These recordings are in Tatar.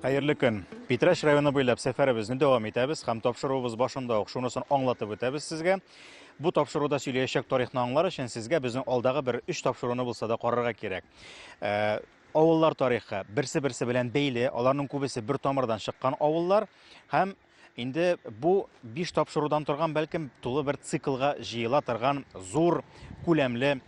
Хәерле көн! Питрәч районы буйлап сәфәребезне дәвам итәбез һәм тапшыруыбыз башында ук шунысын аңлатып үтәбез сезгә. Бу тапшыруда сөйләячәк тарихны аңлар өчен сезгә безнең алдагы бер өч тапшыруны булса да карарга кирәк. Ә, авыллар тарихы берсе-берсе белән бәйле, аларның күбесе бер тамырдан чыккан авыллар һәм Инде бу биш тапшырудан торган, бәлкем, тулы бер циклга җыела торган зур күләмле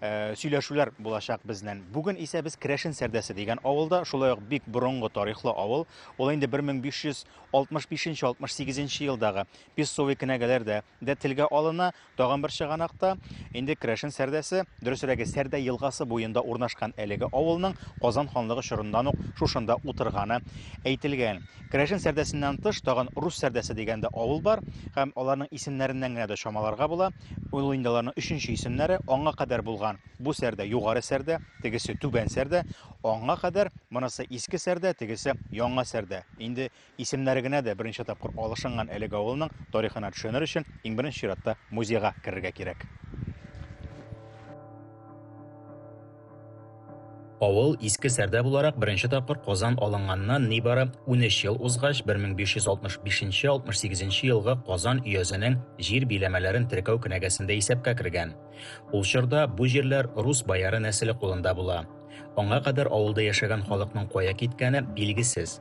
Э, сөйләшүләр булачак безнен. Бүген исә без Керәшен Сәрдәсе дигән авылда, шулай ук бик борынгы тарихлы авыл. Ул инде 1565-68 елдагы Песовый кенәгәләрдә дә телгә алына. Тагын бер чыганак та, инде Крәшен Сәрдәсе, дөресрәге, Сәрдә елгасы буенда урнашкан әлеге авылның Казан ханлыгы чорыннан ук шушында утырганы әйтелгән. Крәшен Сәрдәсеннән тыш, тагын Рус Сәрдәсе дигән дә авыл бар һәм аларның исемнәреннән генә дә чамаларга була, ул инде аларның өченче исемнәре, аңа кадәр булган, бу Сәрдә, Югары Сәрдә, тегесе Түбән Сәрдә, аңа кадәр, монысы Иске Сәрдә, тегесе Яңа Сәрдә, инде Исемнәре генә дә берничә тапкыр алышынган әлеге авылның тарихына төшенер өчен, иң беренче чиратта музейга керергә кирәк. Авыл Иске Сәрдә буларак беренче тапкыр Казан алынганнан нибары унөч ел узгач, 1565-68 нче елгы Казан өязенең җир биләмәләрен теркәү кенәгәсендә исәпкә кергән. Ул чорда бу җирләр рус бояры нәселе кулында була. Аңа кадәр авылда яшәгән халыкның кая киткәне билгесез.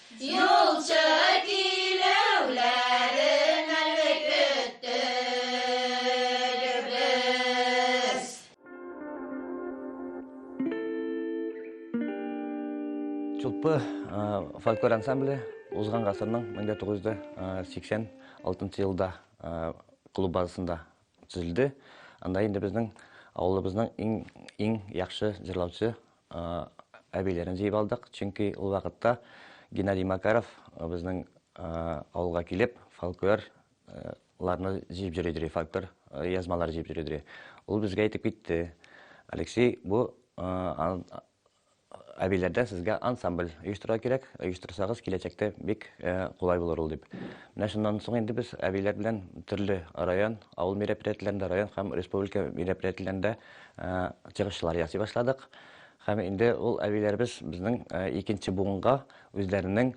Юлчы килүләрен әле көттербез. Чулпы фольклор ансамбле узган гасырның 1986 елда клуб базасында төзелде. Анда инде безнең авылыбызның иң иң яхшы җырлаучы әбиләрен җыеп алдык, чөнки ул вакытта Геннадий Макаров безнең авылга килеп, фольклорларны җыеп йөри дери, фольклор язмалар җыеп йөри дери. Ул безгә әйтеп китте, Алексей, бу әбиләрдә сезгә ансамбль оештырырга кирәк, оештырсагыз, киләчәктә бик кулай булыр ул дип. Менә шуннан соң инде без әбиләр белән төрле район, Авыл мероприятиеләрендә, район һәм республика мероприятиеләрендә чыгышлар ясый башладык. Һәм инде ул әбиләребез безнең икенче буынга үзләренең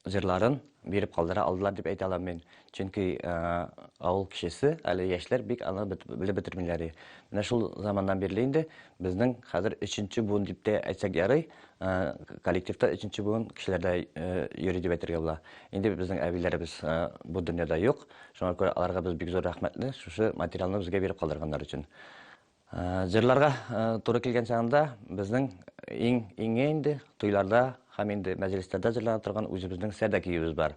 җырларын биреп калдыра алдылар дип әйтә алам мин. Чөнки авыл кешесе, әле яшьләр бик аны белеп бетермиләр. Менә шул заманнан бирле инде безнең хәзер өченче буын дип тә әйтсәк ярый, Э, коллективта өченче буын кешеләрдә э, йөри дип әйтергә була инде безнең әбиләребез э, бу дөньяда юк шуңа күрә аларга без бик зур рәхмәтле шушы материалны безгә биреп калдырганнар өчен җырларга туры килгән чагында безнең иң иңе инде туйларда һәм инде мәҗлесләрдә җырлана торган үзебезнең сәдә киюебез бар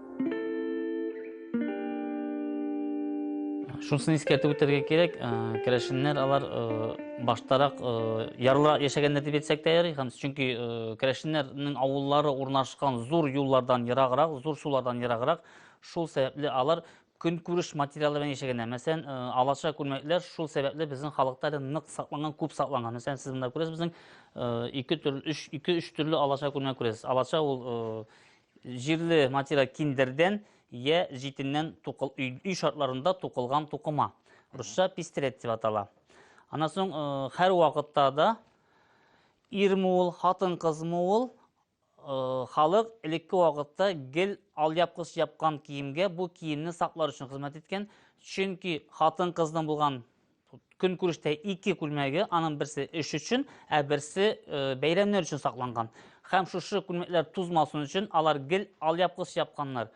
Шунысын искәртеп үтәргә кирәк, керәшеннәр алар баштарак ярлыра яшәгәннәр дип әйтсәк тә ярый, һәм чөнки керәшеннәрнең авыллары урнашкан зур юллардан ераграк, зур сулардан ераграк, шул сәбәпле алар көнкүреш материалы белән яшәгәннәр. Мәсәлән, алаша күлмәкләр шул сәбәпле безнең халыкта әле нык сакланган, күп сакланган. Мәсәлән, сез монда күрәсез, безнең ике төрле, өч, ике, өч төрле алаша күлмәк күрәсез. Алаша ул Җирле материал киндердән я җитеннән тукыл, өй, өй шартларында тукылган тукыма. Русча пестрет дип атала. Аннан соң э, һәр вакытта да ирме ул, хатын-кызмы ул, э, халык элекке вакытта гел алъяпкыч япкан киемгә бу киемне саклар өчен хезмәт иткән. Чөнки хатын-кызның булган Көнкүрештә ике күлмәге, аның берсе эш өчен, ә берсе бәйрәмнәр өчен сакланган. Һәм шушы күлмәкләр тузмасын өчен алар гел алъяпкыч япканнар.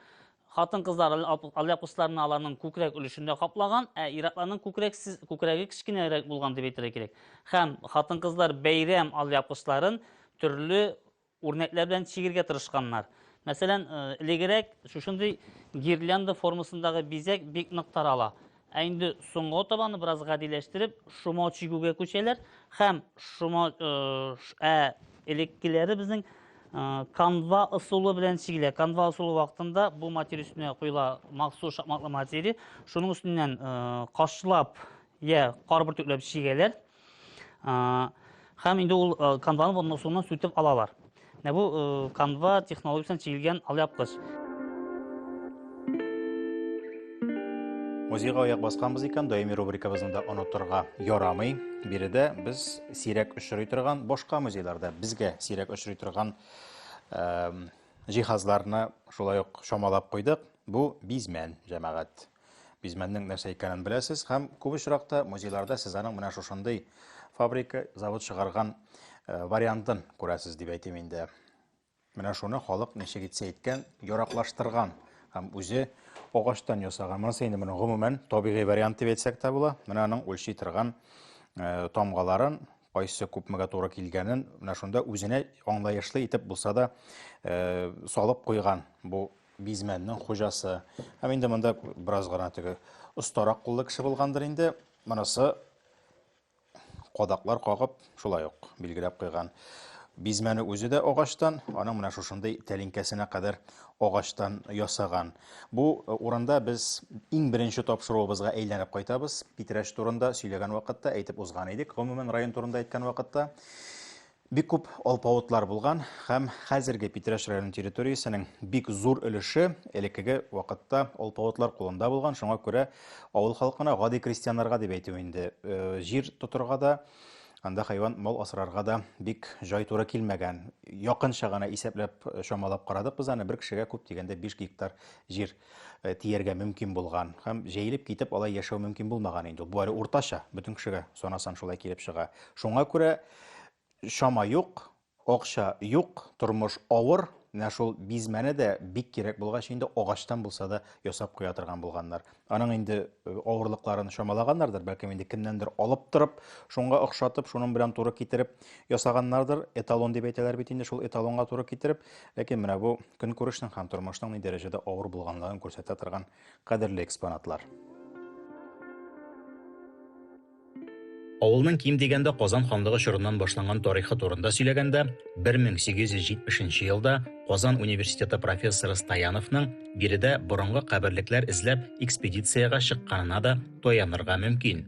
Хатын-кызлар алъяпкычларны аларның күкрәк өлешендә каплаган, ә ир-атларның күкрәксез, күкрәге кечкенәрәк булган дип әйтергә кирәк. Һәм хатын-кызлар бәйрәм алъяпкычларын төрле Үрнәкләр белән чигергә тырышканнар. Мәсәлән, элегерәк шушындый гирлянда формасындагы бизәк бик нык тарала. Ә инде соңга табаны бераз гадиләштереп, шома чигүгә күчәләр һәм шома ә элеккеләре безнең канва ысулы белән чигелә. Канва ысулы вакытында бу материя өстенә куела махсус шакмаклы материя. Шуның өстеннән кашлап я кар бөртекләп чигәләр. Һәм инде ул канваны булмас суыннан сүтеп алалар. Менә бу канва технологиясен чигелгән алъяпкыч. Музейга аяк басканбыз икән, даими рубрикабызны да онытырга ярамый. Биредә без сирәк очрый торган, башка музейларда безгә сирәк очрый торган җиһазларны шулай ук чамалап куйдык. Бу бизмән, җәмәгать. Бизмәннең нәрсә икәнен беләсез һәм күп очракта музейларда сез аның менә шушындый фабрика, завод чыгарган э, вариантын күрәсез дип әйтим инде. Менә шуны халык ничек итсә иткән, яраклаштырган һәм үзе агачтан ясаган. Монысы инде моның гомумән табигый вариант дип әйтсәк тә була. Менә аның үлчи торган э, тамгаларын кайсы күпмегә туры килгәнен менә шунда үзенә аңлаешлы итеп булса да э, салып куйган бу Бизмәннең хуҗасы. Һәм инде монда бераз гына теге остарак куллы кеше булгандыр инде. Монысы кадаклар кагып, шулай ук билгеләп куйган. Бизмәне үзе дә агачтан, аның менә шушындый тәлинкәсенә кадәр агачтан ясаган. Бу э, урында без иң беренче тапшыруыбызга әйләнеп кайтабыз. Питрәч турында сөйләгән вакытта әйтеп узган идек, гомумән район турында әйткән вакытта. Бик күп алпавытлар булган һәм хәзерге Питрәч районы территориясенең бик зур өлеше элеккеге вакытта алпавытлар кулында булган, шуңа күрә авыл халкына гади крестьяннарга дип әйтү инде, э, җир тотырга да, анда хайван мал асрарга да бик җай туры килмәгән. Якынча гына исәпләп, э, чамалап карадык без аны, бер кешегә күп дигәндә 5 гектар җир э, тияргә мөмкин булган һәм җәелеп китеп алай яшәү мөмкин булмаган инде. Бу әле уртача, бөтен кешегә санасан шулай килеп чыга. Шуңа күрә Чама юк, акча юк, тормыш авыр. Менә шул бизмәне дә бик кирәк булгач инде агачтан булса да ясап куя торган булганнар. Аның инде э, авырлыкларын чамалаганнардыр, бәлкем инде кемнәндер алып торып, шуңа охшатып, шуның белән туры китереп ясаганнардыр. Эталон дип әйтәләр бит инде шул эталонга туры китереп. Ләкин менә бу көнкүрешнең һәм тормышның ни дәрәҗәдә авыр булганлыгын күрсәтә торган Кадерле экспонатлар! Авылның ким дигәндә Казан ханлыгы чорыннан башланган тарихы турында сөйләгәндә, 1870 нче елда Казан университеты профессоры Стояновның биредә борынгы каберлекләр эзләп экспедициягә чыкканына да таянырга мөмкин.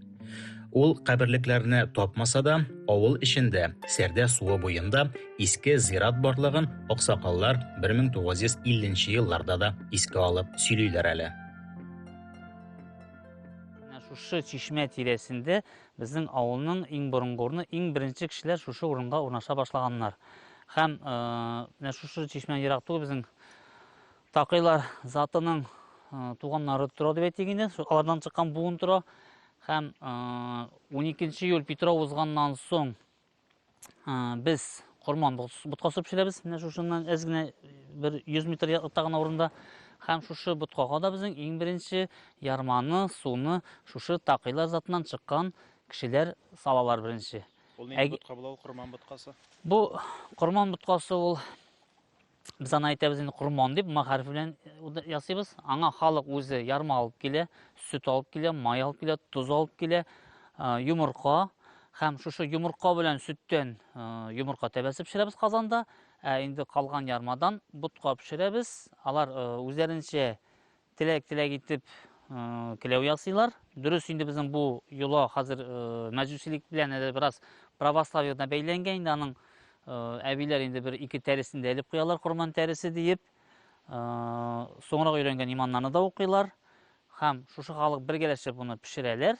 Ул каберлекләрне тапмаса да, авыл эчендә, Сәрдә суы буенда иске зират барлыгын аксакаллар 1950 елларда да искә алып сөйлиләр әле. Шушы чишмә тирәсендә безнең авылның иң борынгы урыны, иң беренче кешеләр шушы урынга урнаша башлаганнар. Һәм э, менә шушы чишмә ерак түгел безнең Такыйлар затының туганнары тора дип әйтик инде. Алардан чыккан буын тора. Һәм 12 июль Петров узганнан соң без Корман ботка сып пешерәбез. Менә шушыннан әз генә бер 100 метр якта гына урында. Һәм шушы боткага да безнең иң беренче ярманы, суны шушы такыйлар затыннан чыккан кешеләр салалар беренче. Ул нинди ботка була ул корман боткасы? Бу корман боткасы ул Без аны әйтәбез инде корман дип, ма хәрефе белән э, ясыйбыз. Аңа халык үзе ярма алып килә, сөт алып килә, май алып килә, тоз алып килә, э, йомырка һәм шушы йомырка белән сөттән э, йомырка тәбәсе пешерәбез казанда. Ә инде калган ярмадан ботка пешерәбез. Алар үзләренчә Теләк-теләк итеп келәү ясыйлар. Дөрес инде безнең бу йола хәзер мәҗүсилек белән әле бераз православиедан бәйләнгән. Инде аның әбиләр инде бер ике тәресен дә элеп куялар, корман тәресе диеп. Соңрак өйрәнгән иманнарны да укыйлар. Һәм шушы халык бергәләшеп буны пешерәләр.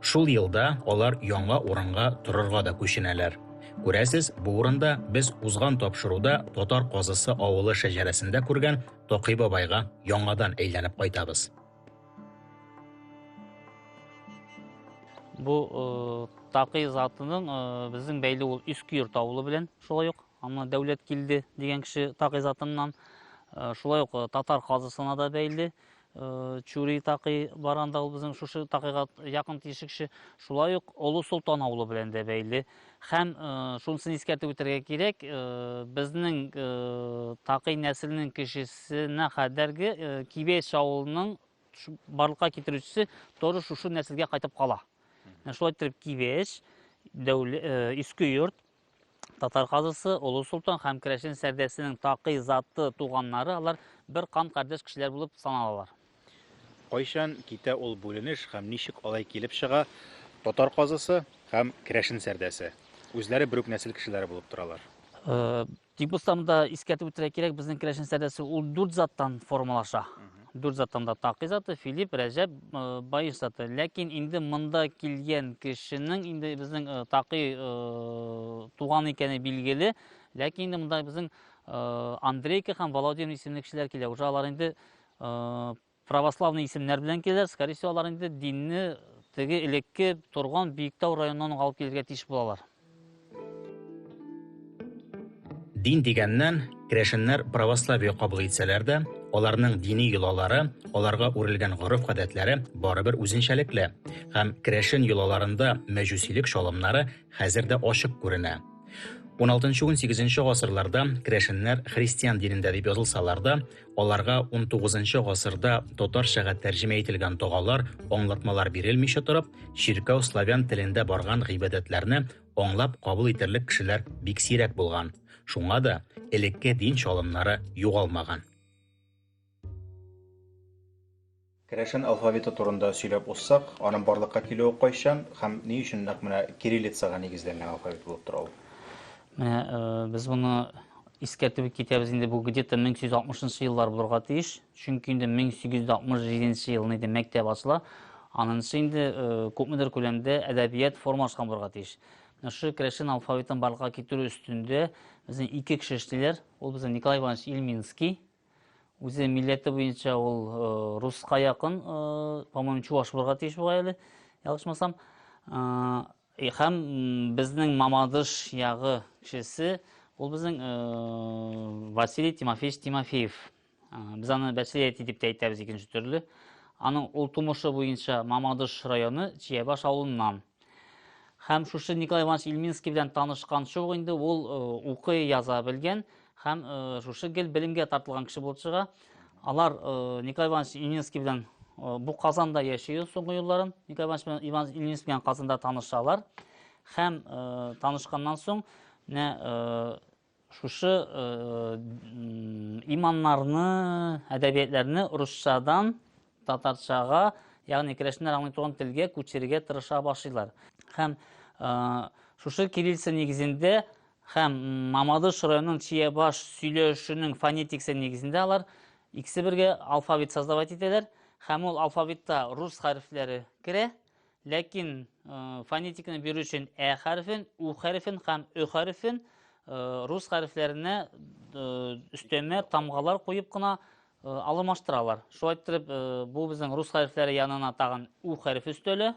Шул елда алар яңа урынга торырга да күченәләр. Күрәсез, бу урында без узган тапшыруда Татар казысы авылы шәҗәрәсендә күргән Токый бабайга яңадан әйләнеп кайтабыз. Бу э, Токый затының э, безнең бәйле ул Искөер тавылы белән шулай ук. Аңа дәүләт килде дигән кеше Токый затыннан. Э, шулай ук татар казысына да бәйле. Э, чури такый барган да ул безнең шушы такыйга якын тишек кеше шулай ук олы солтан авылы белән дә бәйле һәм э, шунысын искәртеп үтәргә кирәк э, безнең такый нәселнең кешесенә кадәрге кибеш авылының барлыкка китерүчесе тоже шушы нәселгә кайтып кала шулай итеп кибеш иске йорт Татар казысы, Олы Солтан һәм Керәшен сәрдәсенең такый заты туганнары, алар бер кан кардәш кешеләр булып саналалар. Кайчан китә ул бүленеш һәм ничек алай килеп чыга, Татар казысы һәм Керәшен сәрдәсе, үзләре бер үк нәсел кешеләре булып торалар? Э, Тик булсам да искәртеп үтәргә кирәк, безнең керәшен сәдәсе ул дүрт заттан формалаша. Дүрт заттан да Такый заты, Филипп, Рәҗәб, э, Баеш заты. Ләкин инде монда килгән кешенең инде безнең э, Такый э, туган икәне билгеле. Ләкин инде монда безнең э, Андрейка һәм Володин исемле кешеләр килә. Уже алар инде э, Православный исемнәр белән киләләр, скорее всего, алар инде динне теге элекке торган Биектау районыннан алып килергә тиеш булалар. Дин дигәннән, керәшеннәр православие кабул итсәләр дә, аларның дини йолалары, аларга үрелгән гореф-гадәтләре барыбер үзенчәлекле, һәм керәшен йолаларында мәҗүсилек чалымнары хәзер дә ачык күренә. 16-18 гасырларда керәшеннәр христиан динендә дип язылсалар да, Аларга унтугызынчы гасырда татарчага тәрҗемә ителгән догалар, аңлатмалар бирелмичә торып, чиркәү славян телендә барган гыйбадәтләрне аңлап кабул итерлек кешеләр бик сирәк булган. Шуңа да элекке дин чалымнары югалмаган. Керәшен алфавиты турында сөйләп узсак, аның барлыкка килүе кайчан һәм ни өчен нәкъ менә кириллицага нигезләнгән алфавит булып тора ул? Менә без моны искәртеп китәбез инде бу где-то 1860 еллар булырга тиеш. Чөнки инде 1867 елны инде мәктәп ачыла. Анысы инде күпмедер күләмдә әдәбият формалашкан булырга тиеш. Менә шушы керәшен алфавитын барлыкка китерү өстендә безнең ике кеше эшлиләр. Ул безнең Николай Иванович Ильминский Үзе милләте буенча ул э, руска якын, э, по-моему, чуваш булырга тиеш буга әле, ялгышмасам. Э, һәм безнең Мамадыш ягы кешесе, ул безнең Василий Тимофеевич Тимофеев. Без аны Бәсилияти дип тә әйтәбез икенче төрле. Аның ул тумышы буенча Мамадыш районы Чиябаш авылыннан. Һәм шушы Николай Иванович Ильминский белән танышкан шул инде ул укый яза белгән. Ә, Һәм шушы гел белемгә тартылган кеше булып чыга. Алар Николай Иванович Ильинский белән бу Казанда яши соңгы елларын. Николай Иванович белән Иван Ильинский белән Казанда танышалар. Һәм танышканнан соң менә шушы иманнарны, әдәбиятләрне русчадан татарчага, ягъни керәшеннәр аңлый торган телгә күчерергә тырыша башлыйлар. Һәм шушы кириллица нигезендә Һәм Мамадыш районының Чиябаш сөйләшүнең фонетиксы нигезендә алар икесе бергә алфавит создавать итәләр. Һәм ул алфавитта рус хәрефләре керә. Ләкин фонетиканы бирү өчен ә хәрефен, у хәрефен һәм ө хәрефен рус хәрефләренә өстәмә тамгалар куеп кына Э, алмаштыралар. Шулай иттереп, э, бу безнең рус хәрефләре янына тагын у хәрефе өстәлә.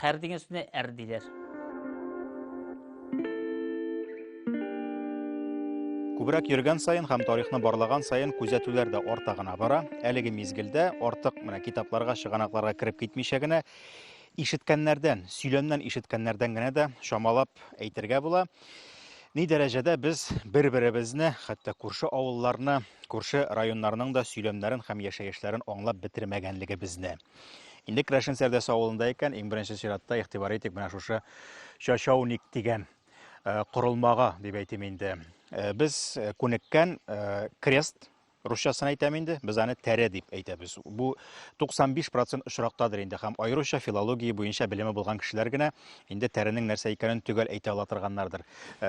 Хәр дигән сүзне әр диләр. Күбрәк йөргән саен һәм тарихны барлаган саен күзәтүләр дә арта гына бара. Әлеге мизгелдә артык менә китапларга, чыганакларга кереп китмичә генә ишеткәннәрдән, сөйләмнән ишеткәннәрдән генә дә чамалап әйтергә була. Ни дәрәҗәдә без бер-беребезне, хәтта күрше авылларны, күрше районнарның да сөйләмнәрен һәм яшәешләрен аңлап бетермәгәнлегебезне. Инде Крәшен Сәрдәс авылында икән, иң беренче чиратта игътибар итик менә шушы чачауник дигән э, корылмага дип әйтим инде. Э, без э, күнеккән крест русчасын әйтәм инде, без аны тәрә дип әйтәбез. Бу 95% очрактадыр инде һәм аеруча филология буенча белеме булган кешеләр генә инде тәренең нәрсә икәнен төгәл әйтә ала торганнардыр.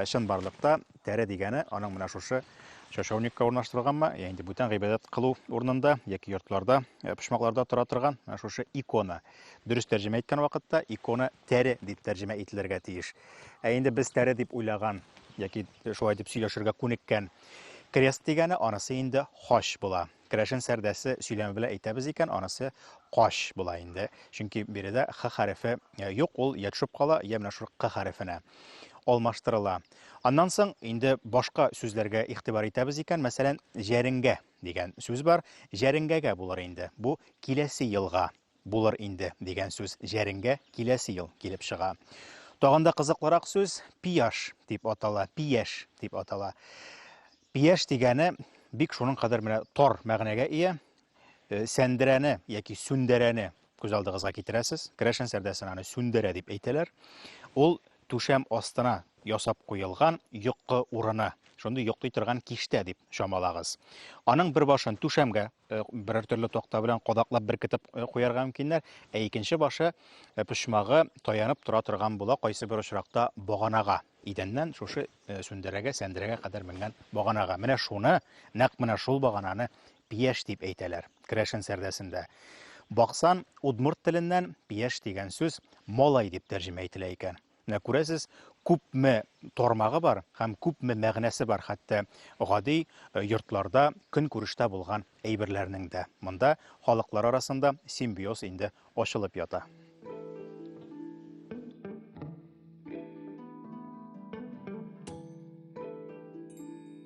Чын барлыкта Тәре дигәне аның менә шушы чашауникка урнаштырылганмы, я инде бүтән гыйбадәт кылу урынында яки йортларда, э, почмакларда тора торган менә шушы икона. Дөрес тәрҗемә иткән вакытта икона тәре дип тәрҗемә ителергә тиеш. Ә инде без тәре дип уйлаган яки шулай дип сөйләшергә күнеккән крест дигәне анысы инде хач була. Керәшен сәрдәсе сөйләме белән әйтәбез икән, анысы кач була инде. Чөнки биредә х хәрефе э, юк, ул я төшеп кала, я менә шул к хәрефенә алмаштырыла. Аннан соң инде башка сүзләргә игътибар итәбез икән, мәсәлән, җәренгә дигән сүз бар. Җәренгәгә булыр инде. Бу киләсе елга Булыр инде, дигән сүз җәренгә киләсе ел килеп чыга. Тагын да кызыклырак сүз пияш дип атала, пияш дип атала. Пияш дигәне бик шуның кадәр менә тар мәгънәгә ия. Э, сәндерәне яки сүндерәне күз алдыгызга китерәсез. Керәшен сәрдәсен аны сүндерә дип әйтәләр. Ул түшәм астына ясап куелган йокы урыны. Шундый йоклый торган киштә дип чамалагыз. Аның бер башын түшәмгә Э, берәр төрле такта белән кадаклап беркетеп э, куярга мөмкиннәр. Ә икенче башы э, почмагы таянып тора торган була, кайсы бер очракта баганага идәннән шушы сүндерәгә, сәндерәгә кадәр менгән баганага. Менә шуны, нәкъ менә шул багананы пияш дип әйтәләр керәшен сәрдәсендә. Баксан удмурт теленнән пияш дигән сүз малай дип тәрҗемә ителә икән. Менә күрәсез, күпме тармагы бар һәм күпме мәгънәсе бар хәтта гади йортларда, көнкүрештә булган әйберләрнең дә. Монда халыклар арасында симбиоз инде ачылып ята.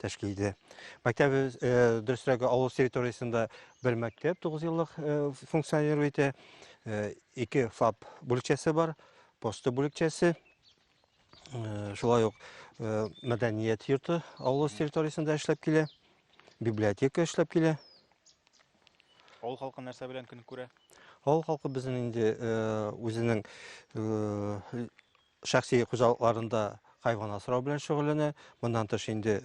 тәшкил итә. Мәктәп дөресрәге авыл территориясендә бер мәктәп 9 еллык функционировать итә. Ике ФАП бүлекчәсе бар, посты бүлекчәсе. Шулай ук мәдәният йорты авыл территориясендә эшләп килә. Библиотека эшләп килә. Авыл халкы нәрсә белән көн күрә? Авыл халкы безнең инде үзенең шәхси хуҗалыкларында хайван асрау белән шөгыльләнә. Моннан тыш инде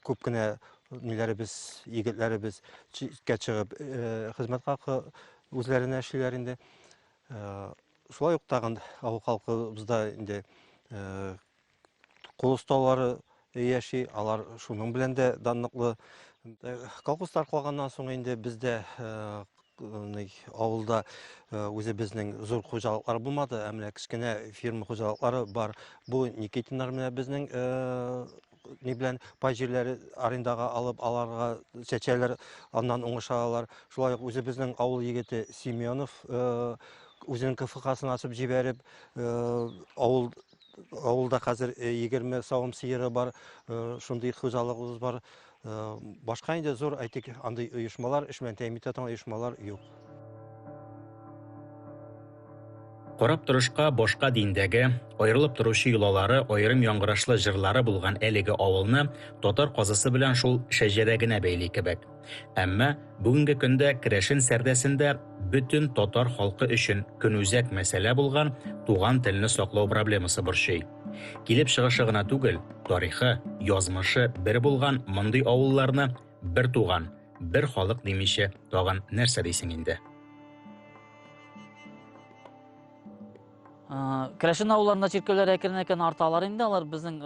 күп кенә ниләребез, егетләребез читкә чыгып хезмәт хакы үзләренә эшлиләр инде. Шулай ук тагын авыл халкыбызда инде кул осталары яши. Алар шуның белән дә данлыклы. Колхоз таркалганнан соң инде бездә авылда үзе безнең зур хуҗалыклар булмады, ә менә кечкенә фирма хуҗалыклары бар. Бу Никитиннар менә безнең ни белән пай җирләре арендага алып, аларга чәчәләр, аннан уңыш алалар. Шулай ук үзе безнең авыл егете Семенов үзенең КФХ-сын ачып җибәреп, авыл Авылда хәзер 20 э, савым сыеры бар, э, шундый хуҗалыгыбыз бар. Э, башка инде зур, әйтик, андый оешмалар, эш белән тәэмин итә оешмалар юк. Карап торышка башка диндәге, аерылып торучы йолалары, аерым яңгырашлы җырлары булган әлеге авылны татар казысы белән шул шәҗәрә генә бәйли кебек. Әмма бүгенге көндә керәшен сәрдәсендә бөтен татар халкы өчен көнүзәк мәсьәлә булган туган телне саклау проблемасы борчый. Килеп чыгышы гына түгел, тарихы, язмышы бер булган мондый авылларны бер туган, бер халык димичә тагын нәрсә дисең инде? Керәшен авылларында чиркәүләр әкрен-әкрен арталар инде, алар безнең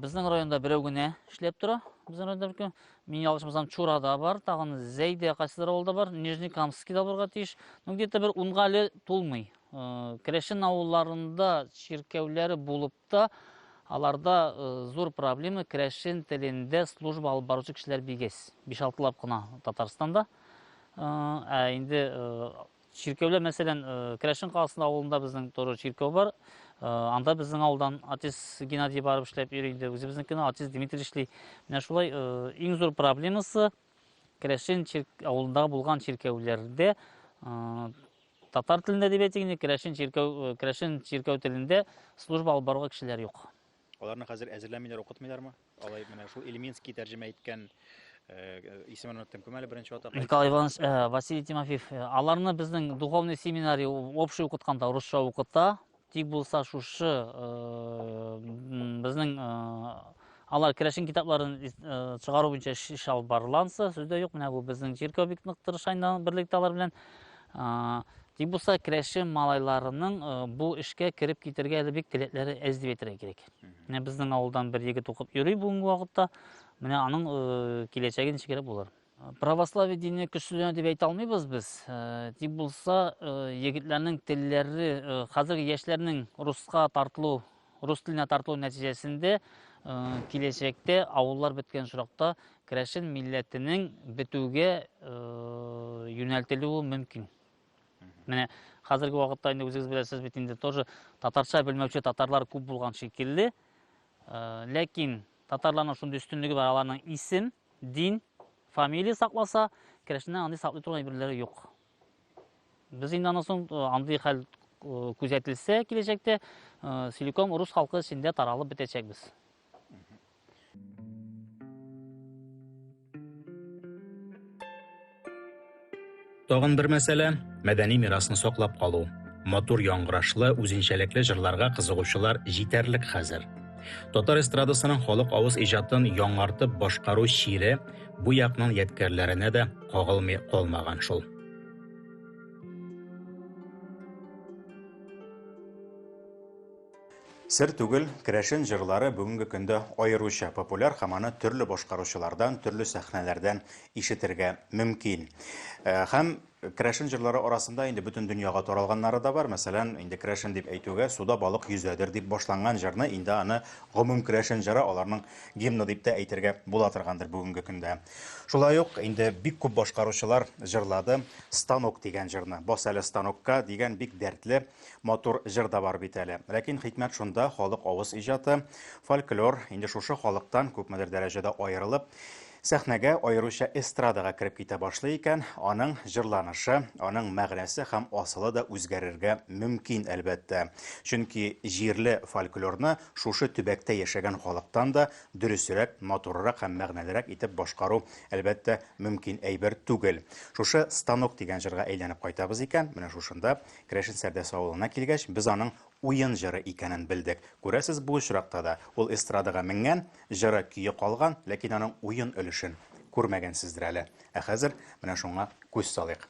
безнең районда берәү генә эшләп тора. Безнең районда Мин ялгышмасам, Чурада бар, тагын Зәйдә кайсыдыр авылда бар, Нижний Камскида булырга тиеш. Ну где-то бер унга әле тулмый. Э, Керәшен авылларында чиркәүләре булып та, аларда э, зур проблема керәшен телендә служба алып баручы кешеләр бигез. 5-6 лап кына Татарстанда. Э, ә инде Чиркәүләр, мәсәлән, э, Керәшен каласында авылында безнең тоже чиркәү бар. Э, анда безнең авылдан артист Геннадий барып эшләп йөри инде. Үзебезнекенә артист Дмитрий эшли. Менә шулай э, иң зур проблемасы Керәшен авылында булган чиркәүләрдә татар телендә әдәбият дигәндә керәшен чиркәү керәшен чиркәү телендә служба алып баруга кешеләр юк. Аларны хәзер әзерләмиләр, укытмыйлармы? Алай менә шул Ильминский тәрҗемә иткән э, исемен оныттым кем әле беренче атак. Николай Иванович э, Василий Тимофеев э, аларны безнең духовный семинарий общий укытканда русча укыта. Тик булса шушы э, безнең э, алар керәшен китапларын э, чыгару буенча эш алып барыланса, сүздә юк. Менә бу безнең чиркәү бик нык тырыша инде берлектә алар белән. Тик булса керәши малайларының бу эшкә кереп китергә әле бик теләкләре әз дип әйтергә кирәк. Менә безнең авылдан бер егет укып йөри бүгенге вакытта. Менә аның киләчәге ничегрәк булыр. Православие дине көчләнә дип әйтә алмыйбыз без. Тик булса егетләрнең телләре хәзерге яшьләрнең руска тартылу Рус теленә тартылу нәтиҗәсендә киләчәктә авыллар беткән очракта керәшен милләтенең бетүгә юнәлтелүе мөмкин. Менә хәзерге вакытта инде үзегез беләсез бит инде тоже татарча белмәүче татарлар күп булган шикелле. Ләкин татарларның шундый өстенлеге бар, аларның исем, дин, фамилия сакласа, керәшеннән аны саклый торган әйберләре юк. Без инде аннан соң андый хәл күзәтелсә киләчәктә, целиком рус халкы эчендә таралып бетәчәкбез. Тагын бер мәсьәлә, мәдәни мирасны саклап калу. Матур яңгырашлы, үзенчәлекле җырларга кызыгучылар җитәрлек хәзер. Татар эстрадасының халык авыз иҗатын яңартып башкару чире бу якның ядкәрләренә дә кагылмый калмаган шул. Сер түгел, керәшен җырлары бүгенге көндә аеруча популяр һәм аны төрле башкаручылардан, төрле сәхнәләрдән ишетергә мөмкин. Э, һәм керәшен җырлары арасында инде бөтен дөньяга таралганнары да бар. Мәсәлән, инде керәшен дип әйтүгә, суда балык йөзәдер дип башланган җырны инде аны гомум керәшен җыры аларның гимны дип тә әйтергә була торгандыр бүгенге көндә. Шулай ук инде бик күп башкаручылар җырлады Станок дигән җырны. Бас әле станокка дигән бик дәртле, матур җыр да бар бит әле. Ләкин хикмәт шунда, халык авыз иҗаты, фольклор инде шушы халыктан күпмедер дәрәҗәдә аерылып, сәхнәгә, аеруча эстрадага кереп китә башлый икән, аның җырланышы, аның мәгънәсе һәм асылы да үзгәрергә мөмкин, әлбәттә. Чөнки җирле фольклорны Шушы төбәктә яшәгән халыктан да дөресрәк, матуррак һәм мәгънәлерәк итеп башкару, әлбәттә, мөмкин әйбер түгел. Шушы Станок дигән җырга әйләнеп кайтабыз икән, менә шушында, Керәшен Сәрдәс авылына килгәч, без аның уен җыры икәнен белдек. Күрәсез, бу очракта да ул эстрадага менгән, җыры көе калган, ләкин аның уен өлешен күрмәгәнсездер әле. Ә хәзер менә шуңа күз салыйк.